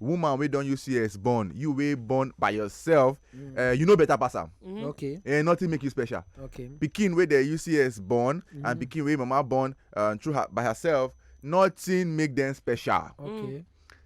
woman wey don use cs born you wey born by yourself mm. eh, you know better pass am mm-hmm. okay eh, nothing make you special okay pikin wey dey use cs born and mm-hmm. pikin wey mama born uh, through her by herself nothing make them special okay mm.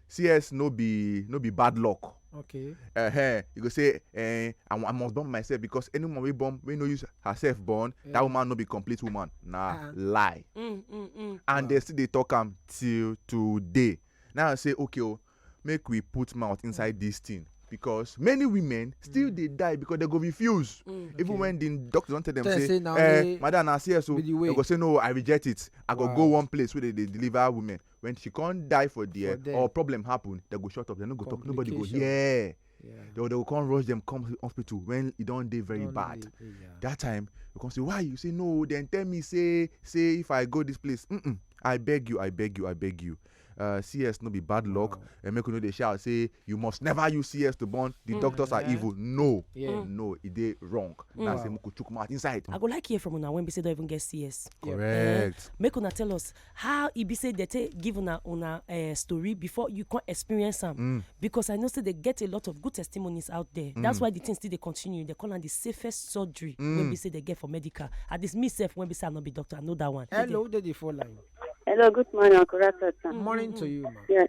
cs no be no be bad luck okay uh -huh. you go say uh, I, i must born myself because any woman wey born wey no use herself born yeah. that woman no be complete woman na uh -huh. lie mm, mm, mm. and wow. they still dey talk am till today Now I say okay oh, make we put mouth inside mm. this thing because many women still mm. dey die because they go refuse mm, okay. even when the doctor don tell them say, say eh madam na see so they go say no i reject it i go wow. go one place wey dey dey deliver women when she come die for there, for there or problem happen they go shut up they no go talk nobody go hear. Yeah. Yeah. They, they will come rush them come hospital when e don dey very don't bad. Dey, yeah. That time you come say why you say no then tell me say say if I go this place mm -mm, I beg you I beg you I beg you. Uh, CS no be bad luck wow. and make you no dey shout say you must never use CS to born the mm. doctors are evil no yeah. Mm. no e dey wrong mm. na say make we chook mouth inside. I go like hear from una when be say don even get CS. correct. Uh, make una tell us How e be say dem take give una una uh, story before you come experience am? Mm. Because I know say they get a lot of good testimonies out there. Mm. That's why the things still they continue. They call am the safest surgery mm. when we say they get for medical. At this me self when we say I not be doctor, I know that one. Hello, did you fall line? Hello, good morning, Uncle Morning to you, ma. Yes.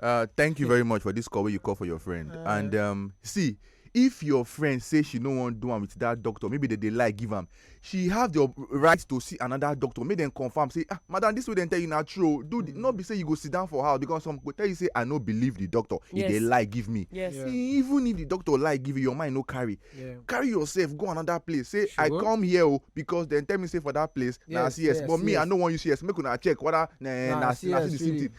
Uh, thank you very much for this call wey you call for your friend. Uh, and um, see, if your friend say she no wan do am with that doctor maybe they dey lie give am she have the right to see another doctor make dem confirm say ah madam this way dem tell you na true do the, no be say you go sit down for house because some go tell you say i no believe the doctor yes. e dey lie give me yes. Yeah. even if the doctor lie give you your mind no carry yeah. carry yourself go another place say sure. i come here o oh, because dem tell me say for that place yes, na cs yes, but me yes. i no wan use cs make una check whether na na see the same thing